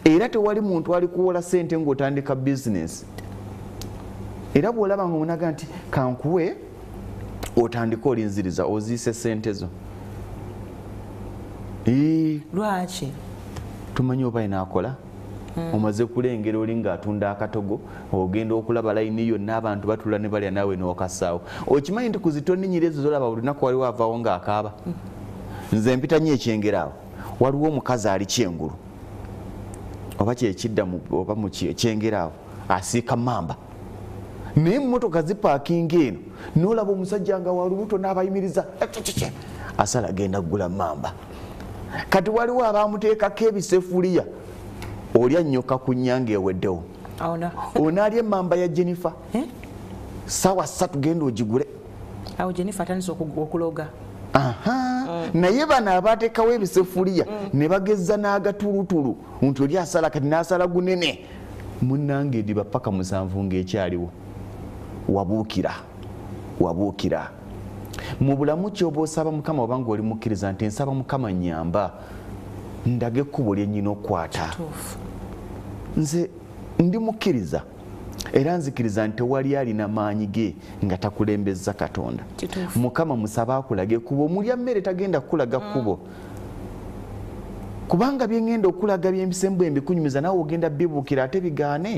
era tewali muntu alikuwola sente ngaotandika bizinesi era bwolaba nga onaga nti kankuwe otandike olinziriza oziise sente zo lwaki tumanyi oba inaakola hmm. omaze kulengera oli ngaatunda akatogo ogenda okulaba layini yonna abantu batula ne balya naawe nokasaawo okimanyi nti kuzitoninyira ezo zolaba buli lunaku waliwo avaawo ngaakaaba hmm. nze mpitanyo ekyengeraawo waliwo omukazi ali kyengulu oba kyekidda oba mukyengera awo asiika mamba naye mumotoka zipaakinga eno nolaba omusajja nga walubuto nabayimiriza asala genda kugula mamba kati waliwo abamuteekako ebisefuliya olya nyoka ku nyanga eweddewo onaalya emamba ya jennifer eh? sawa satu genda ogigule awo jennifer atandise okuloga mm. naye bano abatekawo ebisefuliya mm. ne bagezza n'agatulutulu nti oli asala kati n'asala gunene munange ediba paka musanvu ng'ekyaliwo wabuukira wabuukira mu bulamu kyoba osaba mukama oba nga oli mukkiriza nti nsaba mukama nyamba ndage ekkubo lyennyina okukwata nze ndi mukkiriza era nzikiriza nti tewali alina maanyi ge nga takulembezza katonda mukama musabe akulage kuba omulya mmere tagenda kukulaga mm. kubo kubanga byengenda okulaga byempisembu embikunyumiza nawe ogenda bibuukira ate bigaane